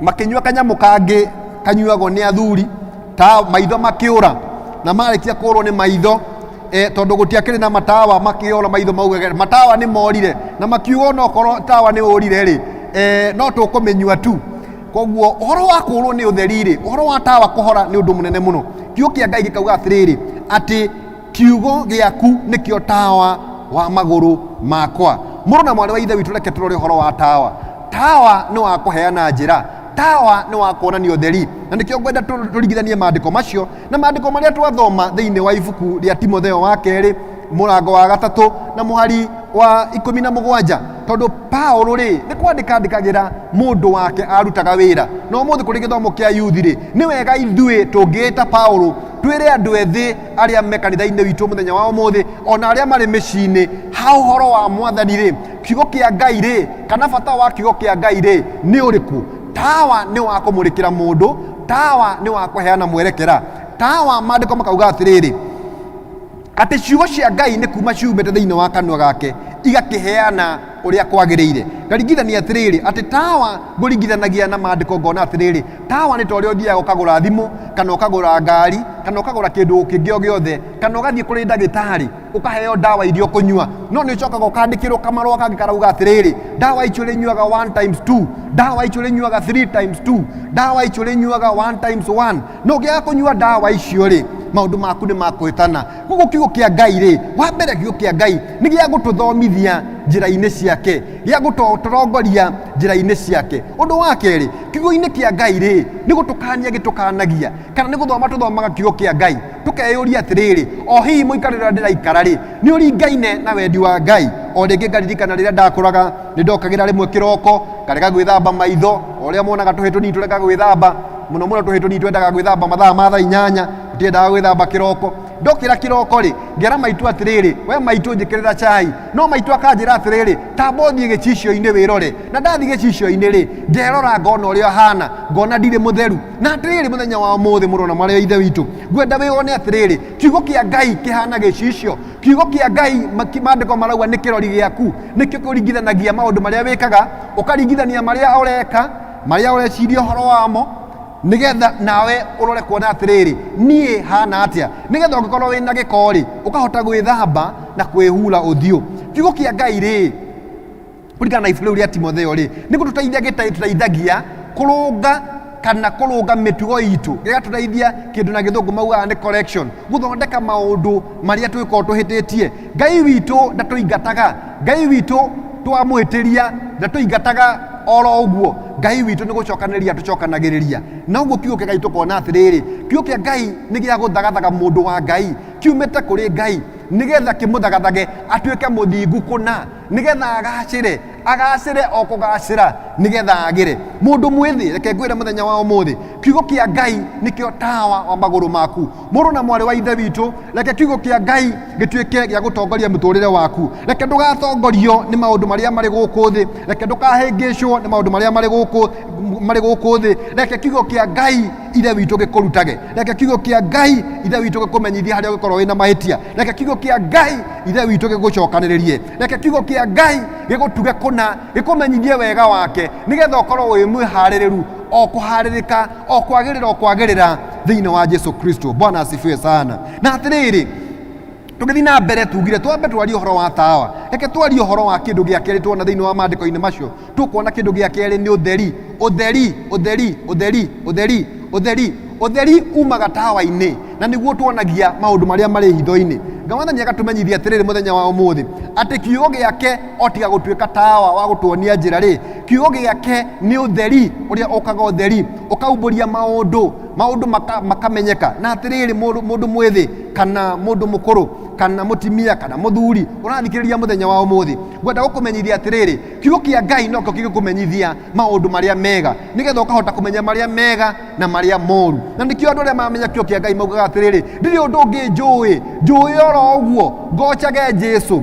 makĩnyua kanyamũ kangĩ kanyuagwo nĩ athuri ta maitho makĩũra na marĩkia kũũrwo nĩ maitho e, tondũ gũtiakĩrĩ na matawa makĩũra maitho maugage matawa nĩ morire na makiuga ona okorwo tawa nĩ ũrire rĩ e, no tũkũmĩnyua tu koguo ũhoro wa kũũrwo nĩ ũtheri rĩ ũhoro wa tawa kũhora nĩ ũndũ mũnene mũno kiugo kĩa ngai gĩkauga atĩrĩrĩ atĩ kiugo gĩaku nĩkĩo tawa wa magũrũ makwa mũrũ na mwarĩ wa ithe witũ reke tũrore ũhoro wa tawa tawa nĩ wa kũheana njĩra tawa nĩ wa kuonania ũtheri na nĩkĩo ngwenda tũ- tũringithanie maandĩko macio na maandĩko marĩa twathoma thĩinĩ wa ibuku rĩa timotheo wa kerĩ mũrango wa gatatũ na mũhari wa ikũmi na mũgwanja tondũ paũlũ rĩ nĩ kwandĩka andĩkagĩra mũndũ wake arutaga wĩra na ũmũthĩ kũrĩ gĩthomo kĩa yuthi rĩ nĩ wega ithuĩ tũngĩĩta paũlũ twĩre andũ ethĩ arĩa me kanitha-inĩ witũ mũthenya wa ũmũthĩ ona arĩa marĩ mĩciĩ-inĩ ha ũhoro wa mwathani rĩ kiugo kĩa ngai rĩ kana bata wa kiugo kĩa ngai rĩ nĩ ũrĩkũ tawa nĩ wa kũmũrĩkĩra mũndũ tawa nĩ wa kũheana mwerekera tawa maandĩko makauga atĩrĩrĩ atĩ ciugo cia ngai nĩ kuma ciumĩte thĩinĩ wa kanua gake igakĩheana ũrĩa kwagĩrĩire ngaringithania atĩrĩrĩ atĩ tawa ngũringithanagia na maandĩko ngona atĩrĩrĩ Tawa nĩ ta ũrĩa ũthiaga ũkagũra thimũ kana ũkagũra ngari kana ũkagũra kĩndũ kĩngĩ o gĩothe kana ũgathiĩ kũrĩ ndagĩtarĩ ũkaheo ndawa iria ũkũnyua no nĩ ũcokaga ũkandĩkĩrwo kamarũa kangĩ karauga atĩrĩrĩ ndawa icio rĩnyuaga one times two ndawa icio rĩnyuaga three times two ndawa icio rĩnyuaga one times one no ũngĩaga kũnyua ndawa icio rĩ maũndũ maku nĩ makũhĩtana koguo kiugo kĩa ngai rĩ wa mbere kiugo kĩa ngai nĩ gĩa gũtũthomithia njĩra-inĩ ciake gĩa gũtũtongoria njĩra-inĩ ciake ũndũ wa kerĩ kiugo-inĩ kĩa ngai rĩ nĩ gũtũkania gĩtũkanagia kana nĩ gũthoma tũthomaga kiugo kĩa ngai tũkeyũria atĩrĩrĩ o hihi mũikarĩre ũrĩa ndĩraikara rĩ nĩ ũringaine na wendi wa ngai o rĩngĩ ngaririkana rĩrĩa ndakũraga nĩ ndokagĩra rĩmwe kĩroko ngarega gwĩthamba maitho o rĩa monaga tũhĩ tũnini tũrega gwĩthamba mũno mũno tũhĩ tũnini twendaga gwĩthamba mathaa ma thaa inyanya tũtiendaga gwĩthamba kĩroko ndokĩra kĩroko-rĩ ngera maitũ atĩrĩrĩ we maitũ njĩkĩrĩra chai no maitũ akanjĩra atĩrĩrĩ tamba ũthiĩ gĩcicio-inĩ wĩrore na ndathiĩ gĩcicio-inĩ-rĩ nderora ngona ũrĩa hana ngona ndirĩ mũtheru na atĩrĩrĩ mũthenya wa ũmũthĩ mũrũ na marĩa ithe witũ ngwenda wĩone atĩrĩrĩ kiugo kĩa ngai kĩhana gĩcicio kiugo kĩa ngai mandĩko marauga nĩ kĩrori gĩaku nĩkĩo kũringithanagia maũndũ marĩa wĩkaga ũkaringithania marĩa ũreka marĩa ũreciria ũhoro wamo nĩgetha nawe ũrore kuona atĩrĩrĩ niĩ hana atĩa nĩgetha ũngĩkorwo wĩna gĩko-rĩ ũkahota gwĩthamba na kwĩhura ũthiũ kiugo kĩa ngai rĩ kũringana na ibuku rĩu rĩa timotheo rĩ nĩ gũtũteithia gĩta- tũteithagia kũrũnga kana kũrũnga mĩtugo itũ gĩgatũteithia kĩndũ na gĩthũngũ maugaga nĩ correction gũthondeka maũndũ marĩa twĩkorwo tũhĩtĩtie ngai witũ ndatũingataga ngai witũ twamwĩtĩria ndatũingataga oro ũguo ngai witũ nĩ gũcokanĩria tũcokanagĩrĩria na ũguo kiugo kĩa ngai tũkona atĩrĩrĩ kiugo kĩa ngai nĩ gĩa gũthagathaga mũndũ wa ngai kiumĩte kũrĩ ngai nĩgetha kĩmũthagathage atuĩke mũthingu kũna nĩgetha agacĩre agacĩre o kũgacĩra nĩgetha agĩre mũndũ mwĩthĩ reke ngwĩre mũthenya wa ũmũthĩ kiugo kĩa ngai nĩkĩo tawa wa magũrũ maku mũrũ na mwarĩ wa ithe witũ reke kiugo kĩa ngai gĩtuĩke gĩa gũtongoria mũtũrĩre waku reke ndũgatongorio nĩ maũndũ marĩa marĩ gũkũ thĩ reke ndũkahĩngĩcwo nĩ maũndũ marĩa marĩ gũkũ marĩ gũkũ thĩ reke kiugo kĩa ngai ithe witũ gĩkũrutage reke kiugo kĩa ngai ithe witũ gĩkũmenyithie harĩa ũgĩkorwo wĩna mahĩtia reke kiugo kĩa ngai ithe witũ gĩgũcokanĩrĩrie reke kiugo kĩa ngai gĩgũtuge kũna gĩkũmenyithie wega wake nĩgetha ũkorwo wĩ mwĩharĩrĩru o kũharĩrĩka o kwagĩrĩra o kwagĩrĩra thĩinĩ wa jesu kristo bwana asifiwe sana na atĩrĩrĩ tũgĩthiĩ na mbere tugire twambe twarie ũhoro wa tawa reke twarie ũhoro wa kĩndũ gĩa kerĩ tuona thĩinĩ wa maandĩko-inĩ macio tũkuona kĩndũ gĩa kerĩ nĩ ũtheri ũtheri ũtheri ũtheri ũtheri ũtheri ũtheri umaga tawa-inĩ na nĩguo tuonagia maũndũ marĩa marĩ hitho-inĩ ngai wathani akatũmenyithia atĩrĩrĩ mũthenya wa ũmũthĩ atĩ kiugo gĩake o tiga gũtuĩka tawa wa gũtuonia njĩra rĩ kiugo gĩake nĩ ũtheri ũrĩa ũkaga ũtheri ũkaumbũria maũndũ maũndũ maka, makamenyeka na atĩrĩrĩ mũndũ mũndũ mwĩthĩ kana mũndũ mũkũrũ kana mũtimia kana mũthuri ũrathikĩrĩria mũthenya wa ũmũthĩ ngwenda gũkũmenyithia atĩrĩrĩ kiugo kĩa ngai nokĩo kĩgĩkũmenyithia maũndũ marĩa mega nĩgetha ũkahota kũmenya marĩa mega na marĩa moru na nĩkĩo andũ arĩa mamenya kiugo kĩa ngai maugaga atĩrĩrĩ ndirĩ ũndũ ũngĩ njũĩ njũĩ oro ũguo ngocage jesu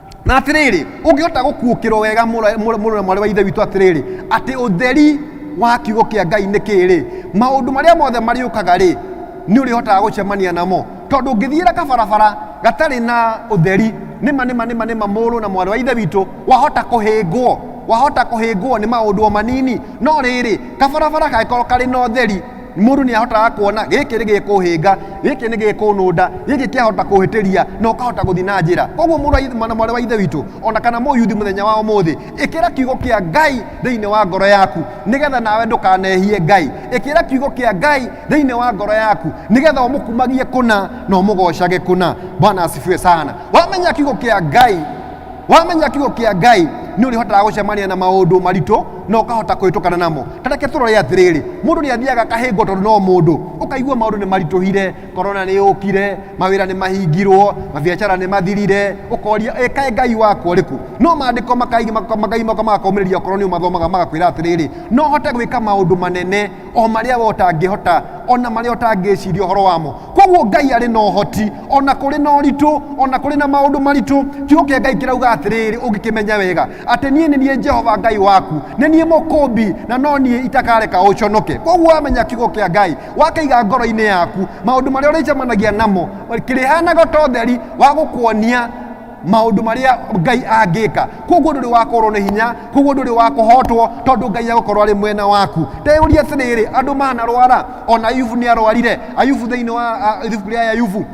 na atiriri ungihota gukuukirwo wega muru na mwari wa ithe witu atiriri ati utheri wa kiugo kia ngai ni kiri maundu maria mothe mariukaga ri ni urihotaga gucemania namo tondu ngithiira kabarabara gatari na utheri nima nima nima nima muru na mwari wa ithe witu wahota kuhingwo wahota kuhingwo ni maundu o manini no riri kabarabara gagikorwo kari na utheri mũndũ nĩ ahotaga kuona gĩkĩ nĩ gĩkũhĩnga gĩkĩ nĩ gĩkũnũnda gĩkĩ kĩahota kũhĩtĩria na ũkahota gũthiĩ na njĩra koguo mũrũ wa ithe- mwana mwarĩ wa ithe witũ ona kana mũyuthi mũthenya wa ũmũthĩ ĩkĩra kiugo kĩa ngai thĩinĩ wa ngoro yaku nĩgetha nawe ndũkanehie ngai ĩkĩra kiugo kĩa ngai thĩinĩ wa ngoro yaku nĩgetha ũmũkumagie kũna na ũmũgocage kũna bwana asifiwe sana wamenya kiugo kĩa ngai wamenya kiugo kĩa ngai nĩ ũrĩhotaga gũcemania na maũndũ maritũ na ũkahota kũhĩtũkana namo tareke tũrore atĩrĩrĩ mũndũ nĩ athiaga akahĩngwo tondũ no mũndũ ũkaigua maũndũ nĩ maritũhire korona nĩ yũkire mawĩra nĩ mahingirwo mabiacara nĩ mathirire ũkoria ĩkae ngai wakwa ũrĩkũ no maandĩko makai- maka- makai maka magakomĩrĩria okorwo nĩ ũmathomaga magakwĩra atĩrĩrĩ no hote gwĩka maũndũ manene o marĩa we ũtangĩhota o na marĩa ũtangĩciria ũhoro wamo koguo ngai arĩ na ũhoti o na kũrĩ na ũritũ o na kũrĩ na maũndũ maritũ kiugo kĩa ngai kĩrauga atĩrĩrĩ ũngĩkĩmenya wega atĩ niĩ nĩ niĩ jehova ngai waku nĩ niĩ mũkũmbi na no niĩ itakareka ũconoke koguo wamenya kiugo kĩa ngai wakaiga ngoro-inĩ yaku maũndũ marĩa ũrĩcemanagia namo kĩrĩhanaga ta ũtheri wa gũkuonia maundu maria ngai angika koguo nduri wakorwo ni hinya koguo nduri wakuhotwo tondu ngai agukorwo ari mwena waku ndeyuria atiriri andu manarwara ona ayubu ni arwarire ayubu thiini wa a- ibuku ria ayubu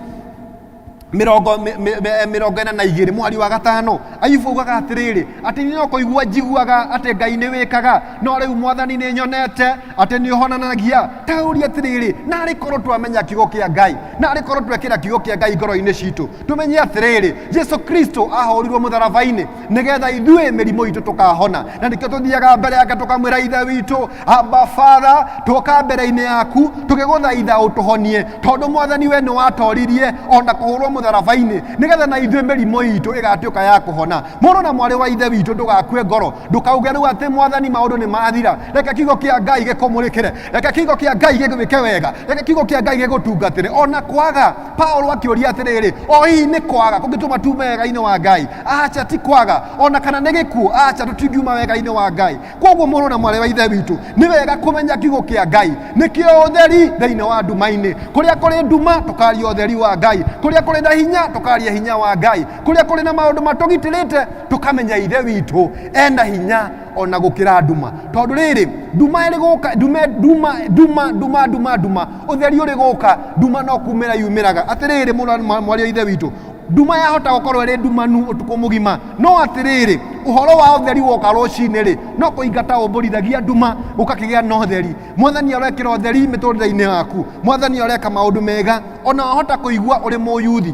mirongo mi- mi- mi- mirongo ina na igiri mwari wa gatano ayubu ugaga atiriri ati ni nokoigua njiguaga ati ngai ni wikaga no riu mwathani ni nyonete ati ni uhonanagia tauria atiriri nari korwo twamenya kiugo kia ngai nari korwo twekira kiugo kia ngai ngoro-ini citu tũmenye atĩrĩrĩ jesu kristo ahorirwo mũtharaba-inĩ nĩgetha ithuĩ mĩrimũ itũ tũkahona na nĩkĩo tũthiaga mbere yake tũkamwĩra ithe witũ amba batha tũka mbere-inĩ yaku tũgĩgũthaitha ũtũhonie tondũ mwathani we nĩ watoririe ona kũhũrwo mũtharaba-inĩ nĩgetha na ithuĩ mĩrimũ itũ ĩgatuĩka ya kũhona mũrũ na mwarĩ wa ithe witũ ndũgakue ngoro ndũkauge rĩu atĩ mwathani maũndũ nĩ mathira reke kiugo kĩa ngai gĩkũmũrĩkĩre reke kiugo kĩa ngai gĩgwĩke wega reke kiugo kĩa ngai gĩgũtungatĩre ona kwaga paulo akĩũria atĩrĩrĩ o hihi nĩ kwaga kũngĩtũma tume wega-inĩ wa ngai aca ti kwaga ona kana nĩ gĩkuũ aca tũtingiuma wega-inĩ wa ngai kwoguo mũrũ na mwarĩ wa ithe witũ nĩ wega kũmenya kiugo kĩa ngai nĩkĩo ũtheri thĩinĩ wa nduma-inĩ kũrĩa kũrĩ nduma tũkaria ũtheri wa ngai kũrĩa kũrĩ na hinya tũkaria hinya wa ngai kũrĩa kũrĩ na maũndũ matũgitĩrĩte tũkamenya ithe witũ ena hinya ona gũkĩra nduma tondũ rĩrĩ nduma ĩrĩ gũka nduma nduma nduma nduma nduma nduma Ũtheri ũrĩ gũka, nduma no kumĩra yumĩraga. Atĩrĩrĩ, mwaria ithe witũ, nduma yahota gũkorwo ĩrĩ ndumanu ũtukũ mũgima no atĩrĩrĩ ũhoro wa ũtheri woka rũcinĩ rĩ no kũingata ũmbũrithagia nduma gũkakĩgĩa na ũtheri mwathani arekĩra ũtheri mĩtũrĩre-inĩ yaku mwathani areka maũndũ mega ona wahota kũigua ũrĩ mũyuthi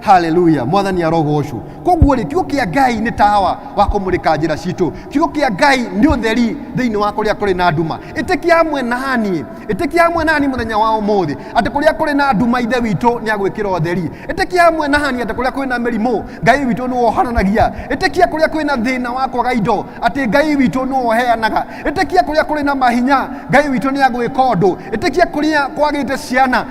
haleluya mwathani arogocwo koguo rĩ kiugo kĩa ngai nĩ tawa wa kũmũrĩka njĩra citũ kiugo kĩa ngai nĩ ũtheri thĩinĩ wa kũrĩa kũrĩ na nduma ĩtĩkia amwe nani ĩtĩkia amwe nani mũthenya wa ũmũthĩ atĩ kũrĩa kũrĩ na nduma ithe witũ nĩ agwĩkĩra ũtheri ĩtĩkia amwe nani atĩ kũrĩa kũrĩ na mĩrimũ ngai witũ nĩ wohananagia ĩtĩkia kũrĩa kwĩ na thĩna wa kwaga indo atĩ ngai witũ nĩ woheanaga ĩtĩkia kũrĩa kũrĩ na mahinya ngai witũ nĩ agwĩka ũndũ ĩtĩkia kũrĩa kwagĩte ciana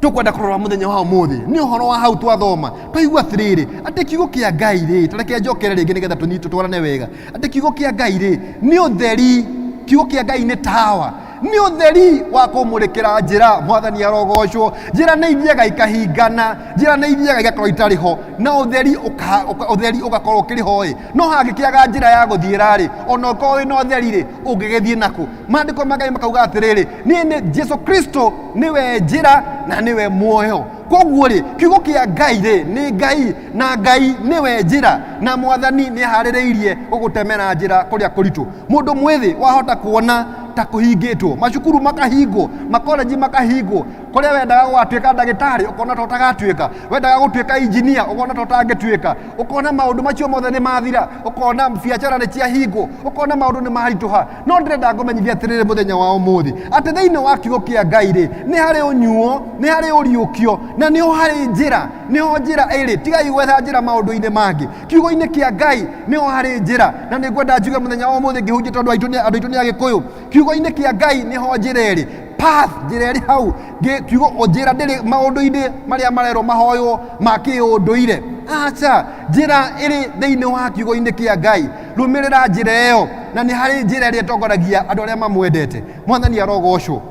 tũkwenda kũrora mũthenya wa ũmũthĩ nĩ ũhoro wa hau twathoma twaigua atĩrĩrĩ atĩ kiugo kĩa ngai rĩ tareke njokere rĩngĩ nĩgetha tũnyi- tũtwarane wega atĩ kiugo kĩa ngai rĩ nĩ ũtheri kiugo kĩa ngai nĩ tawa nĩ ũtheri wa kũmũrĩkĩra njĩra mwathani arogocwo njĩra nĩ ithiaga ikahingana njĩra nĩ ithiaga igakorwo itarĩ ho na ũtheri ũka- ũka- ũtheri ũgakorwo ũkĩrĩ ho ĩ no hangĩkĩaga njĩra ya gũthiĩra rĩ ona ũkorwo wĩ na ũtheri rĩ ũngĩgĩthiĩ nakũ maandĩko ma ngai makauga atĩrĩrĩ niĩ nĩ jesu kristo nĩwe njĩra na nĩwe muoyo koguo rĩ kiugo kĩa ngai rĩ nĩ ngai na ngai nĩwe njĩra na mwathani nĩ aharĩrĩirie gũgũtemera njĩra kũrĩa kũritũ mũndũ mwĩthĩ wahota kuona ta kũhingĩtwo macukuru makahingwo makolenji makahingwo kũrĩa wendaga gũgatuĩka ndagĩtarĩ ũkona ta ũtagatuĩka wendaga gũtuĩka injinia ũkona ta ũtangĩtuĩka ũkona maũndũ macio mothe nĩ mathira ũkona biacara nĩ ciahingwo ũkona maũndũ nĩ maritũha no ndĩrenda ngũmenyithia atĩrĩrĩ mũthenya wa ũmũthĩ atĩ thĩinĩ wa kiugo kĩa ngai rĩ nĩ harĩ ũnyuo nĩ harĩ ũriũkio na nĩho harĩ njĩra nĩho njĩra ĩrĩ tigai gwetha njĩra maũndũ-inĩ mangĩ kiugo-inĩ kĩa ngai nĩho harĩ njĩra na nĩ ngwenda njuge mũthenya wa ũmũthĩ ngĩhunjia tondũ aitũ nĩ- andũ aitũ nĩ agĩkũyũ kiugo-inĩ kĩa ngai nĩho njĩra ĩrĩ path njĩra ĩrĩ hau Ngĩ- kiugo njĩra ndĩrĩ maũndũ-inĩ marĩa marerwo mahoywo ma kĩũndũire aca njĩra ĩrĩ thĩinĩ wa kiugo-inĩ kĩa ngai rumĩrĩra njĩra ĩyo na nĩ harĩ njĩra ĩrĩa ĩtongoragia andũ arĩa mamwendete mwathani arogocwo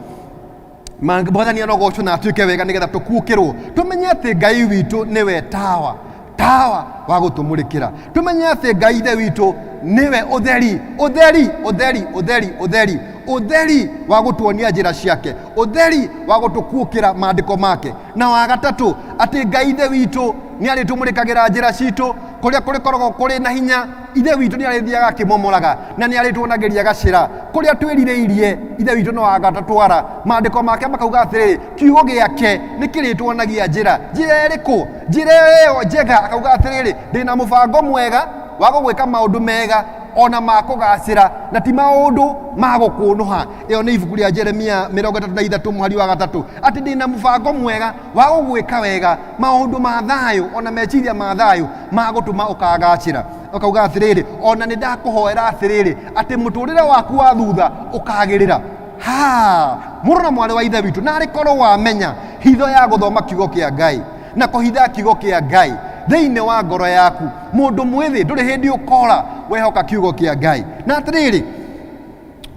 Ma- mwathani arogocwo na atuĩke wega nĩgetha tũkuũkĩrwo tũmenye atĩ ngai witũ nĩwe tawa tawa wa gũtũmũrĩkĩra tũmenye atĩ ngai ithe witũ nĩwe ũtheri ũtheri ũtheri ũtheri ũtheri ũtheri wa gũtuonia njĩra ciake ũtheri wa gũtũkuũkĩra maandĩko make na wa gatatũ atĩ ngai ithe witũ nĩ arĩtũmũrĩkagĩra njĩra citũ kũrĩa kũrĩkoragwo kũrĩ na hinya ithe witũ nĩ arĩthiaga akĩmomoraga na nĩ arĩtuonagĩria gacĩra kũrĩa twĩrirĩirie ithe witũ no agatũtwara maandĩko make makauga atĩrĩrĩ kiugo gĩake nĩ kĩrĩtuonagia njĩra njĩra ĩrĩkũ njĩra ĩyo njega akauga atĩrĩrĩ ndĩ na mũbango mwega wa gũgwĩka maũndũ mega ona ma kũgacĩra na ti maũndũ ma gũkũnũha ĩyo nĩ ibuku rĩa jeremia mĩrongo ĩtatũ na ithatũ mũhari wa gatatũ atĩ ndĩ na mũbango mwega wa gũgwĩka wega maũndũ ma thayũ ona meciria ma thayũ ma gũtũma ũkagacĩra ũkauga atĩrĩrĩ ona nĩ ndakũhoera atĩrĩrĩ atĩ mũtũrĩre waku wa thutha ũkagĩrĩra ha mũrũ na mwarĩ wa ithe witũ narĩ korwo wamenya hitho ya gũthoma kiugo kĩa ngai na kũhitha kiugo kĩa ngai thĩinĩ wa ngoro yaku mũndũ mwĩthĩ ndũrĩ hĩndĩ ũkora wehoka kiugo kĩa ngai na atĩrĩrĩ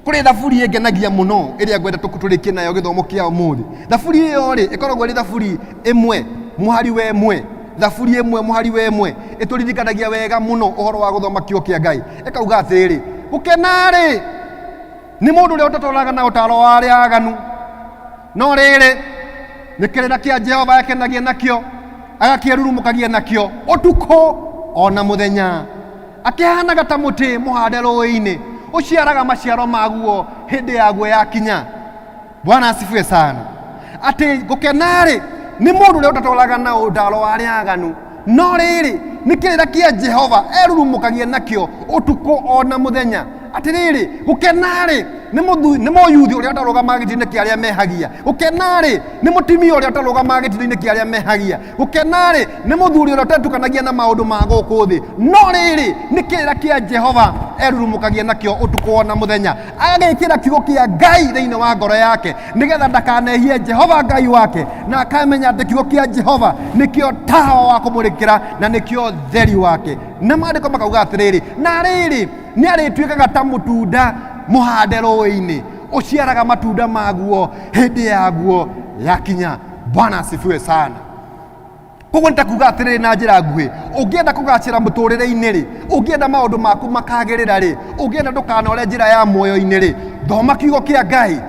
kũrĩ thaburi ĩngenagia mũno ĩrĩa ngwenda tũkũtũrĩkie nayo gĩthomo kĩa ũmũthĩ thaburi ĩyo rĩ ĩkoragwo ĩrĩ thaburi ĩmwe mũhari we mwe thaburi ĩmwe mũhari we mwe ĩtũririkanagia wega mũno ũhoro wa gũthoma kiugo kĩa ngai ĩkauga atĩrĩ gũkena rĩ nĩ mũndũ ũrĩa ũtatwaraga na ũtaro wa arĩa aganu no rĩrĩ nĩ kĩrĩra kĩa jehova akenagia nakĩo agakĩrurumũkagia nakĩo ũtukũ o na mũthenya akĩhanaga ta mũtĩ mũhande rũĩ-inĩ ũciaraga maciaro maguo hĩndĩ yaguo yakinya bwana asifiwe sana atĩ gũkena-rĩ nĩ mũndũ ũrĩa ũtatwaraga na ũndaro wa arĩa aganu no rĩrĩ nĩ kĩrĩra kĩa jehova erurumũkagia nakĩo ũtukũ o na mũthenya atĩrĩrĩ gũkenarĩ nĩ mũthu- nĩ mũyuthi ũrĩa ũtarũgamaga gĩtĩ-inĩ kĩa arĩa mehagia gũkenarĩ nĩ mũtimia ũrĩa ũtarũgamaga gĩtĩ-inĩ kĩa arĩa mehagia gũkenarĩ nĩ mũthuri ũrĩa ũtetukanagia na maũndũ ma gũkũ thĩ no rĩrĩ nĩ kĩrĩra kĩa jehova erurumũkagia nakĩo ũtukũ o na mũthenya agagĩkĩra kiugo kĩa ngai thĩinĩ wa ngoro yake nĩgetha ndakanehie jehova ngai wake na akamenya atĩ kiugo kĩa jehova nĩkĩo tawa wa kũmũrĩkĩra na nĩkĩo theri wake na maandĩko makauga atĩrĩrĩ na rĩrĩ nĩ arĩtuĩkaga ta mũtunda mũhande rũĩ-inĩ ũciaraga matunda maguo hĩndĩ yaguo yakinya bwana asifiwe sana koguo nĩ ta kuga atĩrĩrĩ na njĩra nguhĩ ũngĩenda kũgacĩra mũtũrĩre-inĩ rĩ ũngĩenda maũndũ maku makagĩrĩra rĩ ũngĩenda ndũkanore njĩra ya muoyo-inĩ rĩ thoma kiugo kĩa ngai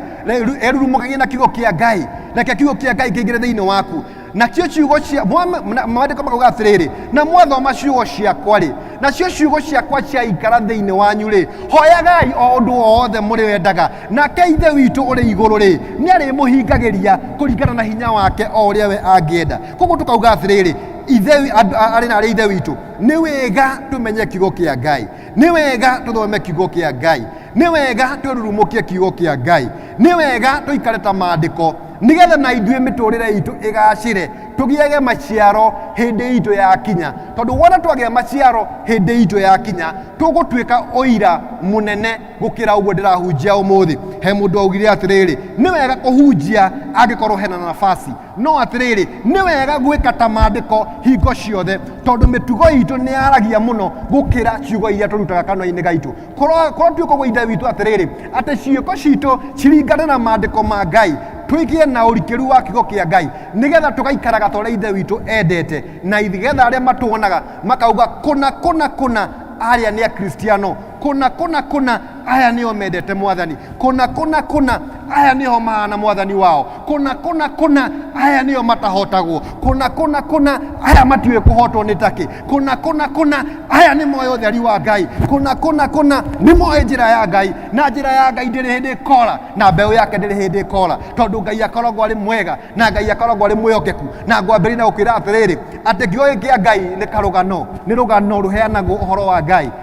erurumũkagia na kiugo kĩa ngai reke kiugo kĩa ngai kĩingĩre thĩinĩ waku nacio ciugo cia maandĩko makauga atĩrĩrĩ na mwathoma ciugo ciakwa rĩ nacio ciugo ciakwa ciaikara thĩinĩ wanyu rĩ hoyagai o ũndũ wothe mũrĩ wendaga Nake Ithe witũ ũrĩ igũrũ-rĩ, nĩarĩmũhingagĩria kũringana na hinya wake o ũrĩa we angĩenda. Koguo tũkauga atĩrĩrĩ, ithe wi- andũ- a- arĩ na arĩ ithe witũ nĩ wega tũmenye kiugo kĩa ngai nĩ wega tũthome kiugo kĩa ngai nĩ wega twĩrurumũkie kiugo kĩa ngai nĩ wega tũikare ta maandĩko nĩgetha na ithuĩ mĩtũrĩre itũ ĩgacĩre tũgĩage maciaro hĩndĩ itũ ya kinya tondũ wona twagĩa maciaro hĩndĩ itũ ya kinya tũgũtuĩka ũira mũnene gukira uguo ndirahunjia umuthi he mundu augire atiriri ni wega kuhunjia angikorwo hena na nafasi no atiriri ni wega gwika ta mandiko hingo ciothe tondu mitugo itu ni yaragia muno gukira ciugo iria turutaga kanua-ini gaitu korwo korwo tuikogwo ithe witũ atiriri ati ciĩko citũ ciringane na mandiko ma ngai tũigĩe na ũrikĩru wa kiugo kĩa ngai nĩgetha tũgaikaraga ta ũrĩa ithe witũ endete na nĩgetha arĩa matuonaga makauga kũna kũna kũna arĩa nĩ akristiano kũna kũna kũna aya nĩo mendete mwathani kũna kũna kũna aya nĩo maana mwathani wao kũna kũna kũna aya nĩo matahotagwo kũna kũna kũna aya matiũĩ kũhotwo nĩ takĩ kũna kũna kũna aya nĩ moĩ ũtheri wa ngai kũna kũna kũna nĩ moĩ njĩra ya ngai na njĩra ya ngai ndĩrĩ hĩndĩ ĩkora na mbeũ yake ndĩrĩ hĩndĩ ĩkora tondũ ngai akoragwo arĩ mwega na ngai akoragwo arĩ mwĩhokeku na ngwambĩrĩria na gũkwĩra atĩrĩrĩ atĩ kĩoĩ kĩa ngai nĩ karũgano nĩ rũgano rũheanagwo ũhoro wa ngai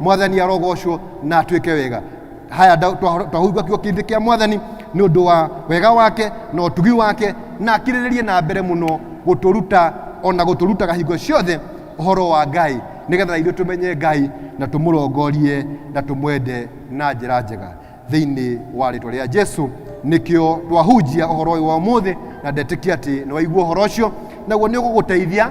mwathani arogocwo na atuĩke wega haya nda- twa- twahumba kiugo kĩndĩ kĩa mwathani nĩ ũndũ wa wega wake na ũtugi wake na akirĩrĩrie na mbere mũno gũtũruta ona gũtũrutaga hingo ciothe ũhoro wa ngai nĩgetha ithuĩ tũmenye ngai na tũmũrongorie na tũmwende na njĩra njega thĩinĩ wa rĩtwa rĩa jesu nĩkĩo twahunjia ũhoro ũyũ wa ũmũthĩ na ndetĩkia atĩ nĩ waigua ũhoro ũcio naguo nĩ ũgũgũteithia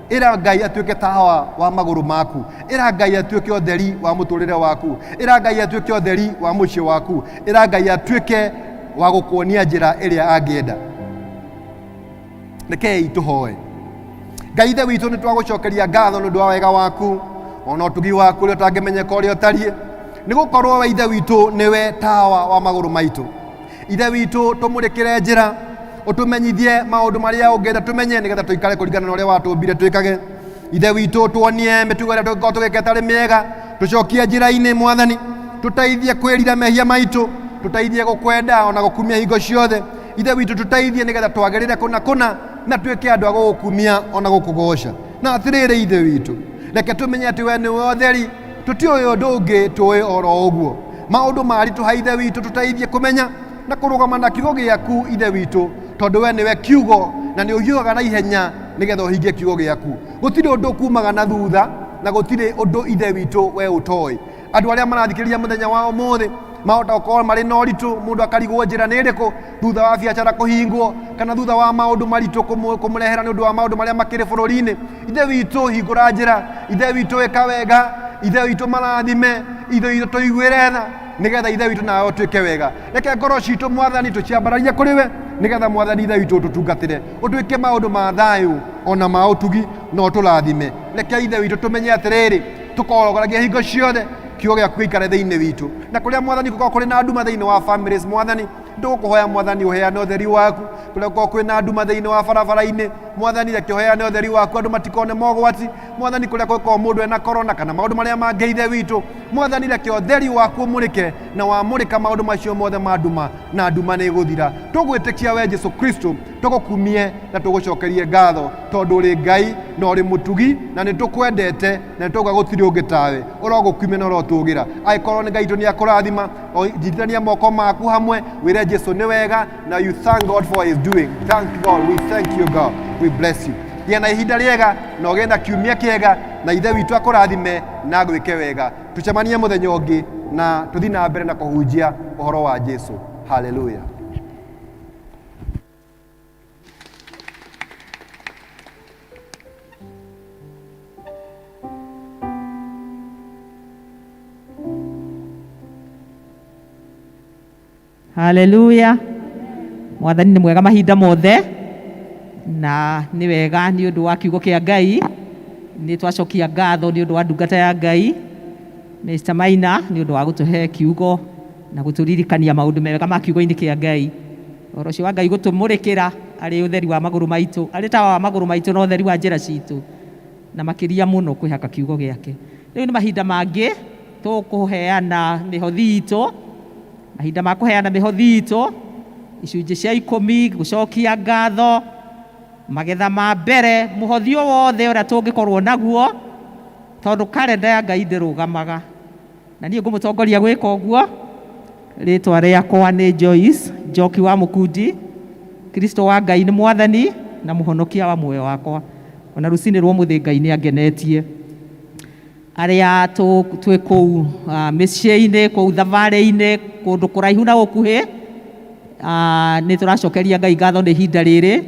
ĩra ngai atuĩke tawa wa magũrũ maku ĩra ngai atuĩke ũtheri wa mũtũrĩre waku ĩra ngai atuĩke ũtheri wa mũciĩ waku ĩra ngai atuĩke wa gũkuonia njĩra ĩrĩa angĩenda rekei tũhoe ngai ithe witũ nĩ twagũcokeria ngatho nĩ ũndũ wa wega waku ona ũtugi waku ũrĩa ũtangĩmenyeka ũrĩa ũtariĩ nĩ gũkorwo we ithe witũ nĩwe tawa wa magũrũ maitũ ithe witũ tũmũrĩkĩre njĩra ũtũmenyithie maũndũ marĩa ũngĩenda tũmenye nĩgetha tũikare kũringana na ũrĩa watũmbire twĩkage ithe witũ tuonie mĩtugo ĩrĩa tũngĩkorwo tũgĩka ĩtarĩ mĩega tũcokie njĩra-inĩ mwathani tũteithie kwĩrira mehia maitũ tũteithie gũkwenda ona gũkumia hingo ciothe ithe witũ tũteithie nĩgetha twagĩrĩre kũna kũna na tuĩke andũ a gũgũkumia ona gũkũgoca na atĩrĩrĩ ithe witũ reke tũmenye atĩ we nĩwe ũtheri tũtiũĩ ũndũ ũngĩ tũĩ oro ũguo maũndũ maritũha ithe witũ tũteithie kũmenya na kũrũgama na kiugo gĩaku ithe witũ tondũ we nĩwe kiugo na nĩ ũhiũhaga na ihenya nĩgetha ũhingie kiugo gĩaku gũtirĩ ũndũ kumaga na thutha na gũtirĩ ũndũ ithe witũ we ũtoĩ andũ arĩa marathikĩrĩria mũthenya wa ũmũthĩ mahota gũkorwo marĩ na ũritũ mũndũ akarigwo njĩra nĩ ĩrĩkũ thutha wa biacara kũhingwo kana thutha wa maũndũ maritũ kũmũ- kũmũrehera nĩ ũndũ wa maũndũ marĩa makĩrĩ bũrũri-inĩ ithe witũ hingũra njĩra ithe witũ wĩka wega ithe witũ marathime ithe witũ tũiguĩre tha nĩgetha ithe witũ nawe ũtuĩke wega reke ngoro citũ mwathani tũciambararie kũrĩ we nĩgetha mwathani ithe witũ ũtũtungatĩre ũtwĩke maũndũ ma thayũ ona ma ũtugi na ũtũrathime reke ithe witũ tũmenye atĩrĩrĩ tũkorogoragia hingo ciothe kiugo gĩaku gĩikare thĩinĩ witũ na kũrĩa mwathani gũkorwo kũrĩ na nduma thĩinĩ wa families mwathani ndũkũhoya mwathani ũheane ũtheri waku kũrĩa gũkorwo kwĩ na nduma thĩinĩ wa barabara-inĩ mwathani reke ũheane ũtheri waku andũ matikone mogwati mwathani kũrĩa gũkorwo mũndũ ena korona kana maũndũ marĩa mangĩ ithe witũ mwathani reke ũtheri waku ũmũrĩke na wamũrĩka maũndũ macio mothe ma nduma na nduma nĩ ĩgũthira tũgwĩtĩkia we jesu kristo tũgũkumie na tũgũcokerie ngatho tondũ ũrĩ ngai na ũrĩ mũtugi na nĩ tũkwendete na nĩ tũgwa gũtirĩ ũngĩ tawe ũrogũkumia na ũrotũgĩra agĩkorwo nĩ ngai itũ nĩ akũrathima O- Njitithania moko maku hamwe wĩre Jesu nĩ wega na you thank God for his doing. Thank God, we thank you God, we bless you. Gĩa na ihinda rĩega na ũgĩe na kiumia kĩega na ithe witũ akũrathime na agwĩke wega. Tũcemanie mũthenya ũngĩ na tũthiĩ na mbere na kũhunjia ũhoro wa Jesu. Hallelujah. haleluya mwathani nĩ mwega mahinda mothe na nĩ wega nĩ ũndũ wa kiugo kĩa ngai nĩ twacokia ngatho nĩ ũndũ wa ndungata ya ngai mr maina nĩ ũndũ wa gũtũhe kiugo na gũtũririkania maũndũ mega ma kiugo-inĩ kĩa ngai Ũhoro ũcio wa Ngai gũtũmũrĩkĩra arĩ ũtheri wa magũrũ maitũ, arĩ tawa wa magũrũ maitũ na ũtheri wa njĩra citũ, na makĩria mũno kwĩhaka kiugo gĩake. Rĩu nĩ mahinda mangĩ tũkũheana mĩhothi itũ, mahinda ma kũheana mĩhothi itũ, icunjĩ cia ikũmi, gũcokia ngatho, magetha ma mbere, mũhothi o wothe ũrĩa tũngĩkorwo naguo, tondũ karenda ya Ngai ndĩrũgamaga. Na niĩ ngũmũtongoria gwĩka ũguo. Rĩtwa rĩakwa nĩ Joyce Njoki wa Mũkundi. Kristo wa Ngai nĩ Mwathani na Mũhonokia wa muoyo wakwa. O na rũcinĩ rwa ũmũthĩ Ngai nĩ angenetie. Arĩa twĩ kũu mĩciĩ-inĩ, kũu thabarĩ-inĩ, kũndũ kũraihu na gũkuhĩ, nĩ tũracokeria Ngai ngatho nĩ ihinda rĩrĩ,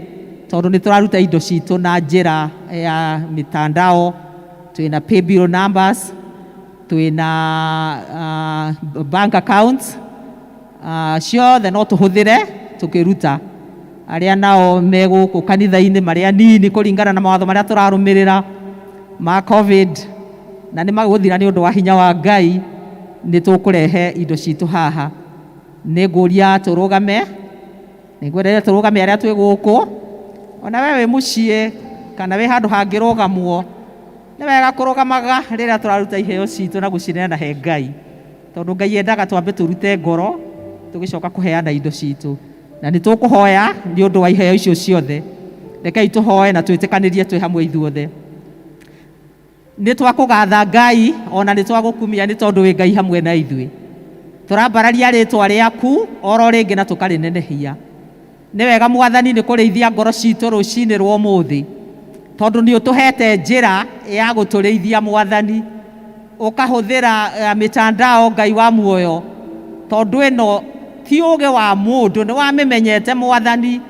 tondũ nĩ tũraruta indo citũ na njĩra ya mĩtandao. Twĩna paybill numbers, twĩ na bank accounts ciothe no tũhũthĩre tũkĩruta arĩa nao me gũkũ kanitha-inĩ marĩ anini kũringana na mawatho marĩa tũrarũmĩrĩra ma covid na nĩ magũthira nĩ ũndũ wa hinya wa ngai nĩ tũkũrehe indo citũ haha nĩ ngũria tũrũgame nĩ ngwendeire tũrũgame arĩa twĩ gũkũ ona we wĩ mũciĩ kana wĩ handũ hangĩrũgamwo Nĩ wega kũrũgamaga rĩrĩa tũraruta iheo citũ na gũcineana he Ngai, tondũ Ngai endaga twambe tũrute ngoro tũgĩcoka kũheana indo citũ. Na nĩ tũkũhoya nĩ ũndũ wa iheo icio ciothe. Rekei tũhoe na twĩtĩkanĩrie twĩ hamwe ithuothe. Nĩ twakũgatha Ngai, o na nĩ twagũkumia nĩ tondũ wĩ Ngai hamwe na ithuĩ. Tũrambararia rĩtwa rĩaku oro rĩngĩ na tũkarĩnenehia. Nĩ wega Mwathani nĩ kũrĩithia ngoro ciitũ rũciinĩ rwa ũmũthĩ, tondũ nĩ ũtũheete njĩra ya gũtũrĩithia Mwathani, ũkahũthĩra mĩtandao Ngai wa muoyo, tondũ ĩno ti ũũgĩ wa mũndũ, nĩ wamĩmenyete Mwathani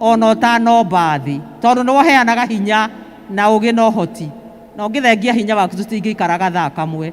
o na ũtanomba thĩ, tondũ nĩ we ũheanaga hinya na ũũgĩ na ũhoti, na ũngĩthengia hinya waku tũtingĩikaraga thaa kamwe.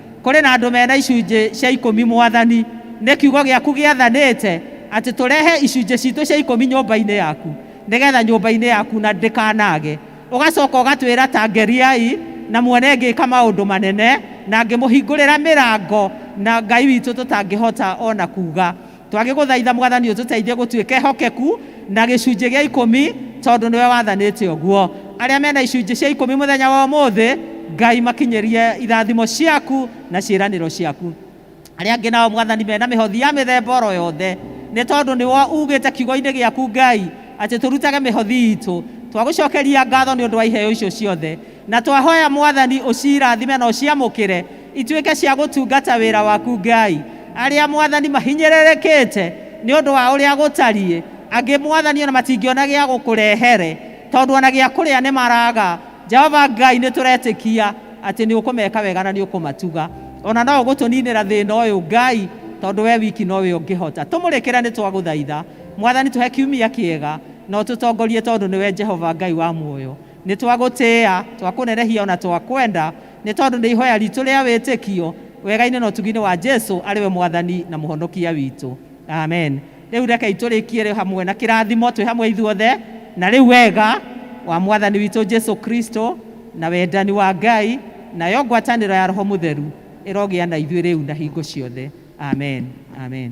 Kũrĩ na andũ mena icunjĩ cia ikũmi Mwathani, nĩ kiugo gĩaku gĩathanĩte atĩ tũrehe icunjĩ citũ cia ikũmi nyũmba-inĩ yaku, nĩgetha nyũmba-inĩ yaku na ndĩkanage. Ũgacoka ũgatwĩra ta ngeriai na muone ngĩka maũndũ manene na ngĩmũhingũrĩra mĩrango na Ngai witũ tũtangĩhota o na kuuga. Twagĩgũthaitha Mwathani ũtũteithie gũtuĩka ehokeku na gĩcunjĩ gĩa ikũmi tondũ nĩwe wathanĩte ũguo. Arĩa mena icunjĩ cia ikũmi mũthenya wa ũmũthĩ, Ngai makinyĩrie irathimo ciaku na ciĩranĩro ciaku. Arĩa angĩ nao Mwathani mena mĩhothi ya mĩthemba oro yothe, nĩ tondũ nĩwe ugĩte kiugo-inĩ gĩaku Ngai atĩ tũrutage mĩhothi itũ. Twagũcokeria ngatho nĩ ũndũ wa iheo icio ciothe. Na twahoya Mwathani ũcirathime na ũciamũkĩre Ituĩke cia gũtungata wĩra waku Ngai. Arĩa mwathani mahinyĩrĩrĩkĩte nĩ ũndũ wa ũrĩa gũtariĩ, angĩ mwathani o na matingĩona gĩa gũkũrehere, tondũ o na gĩa kũrĩa nĩ maraga. Jehova Ngai, nĩ tũretĩkia atĩ nĩ ũkũmeka wega na nĩ ũkũmatuga. O na no ũgũtũninĩra thĩna ũyũ Ngai, tondũ we wiki no we ũngĩhota. Tũmũrĩkĩre nĩ twagũthaitha. Mwathani tũhe kiumia kĩega na ũtũtongorie tondũ nĩ we Jehova Ngai wa muoyo. Nĩ twa gũtĩĩa, twa kũnenehia o na twa kwenda, nĩ tondũ nĩ ihoya ritũ rĩa wĩtĩkio, wega-inĩ na ũtugi-inĩ wa Jesu arĩ we Mwathani na Mũhonokia witũ. Amen. Rĩu rekei tũrĩkie rĩ hamwe na kĩrathimo twĩ hamwe ithuothe. Na rĩu wega wa Mwathani witũ Jesu Kristo, na wendani wa Ngai, nayo ngwatanĩro ya Roho Mũtheru ĩrogĩa na ithuĩ rĩu na hingo ciothe. Amen. Amen.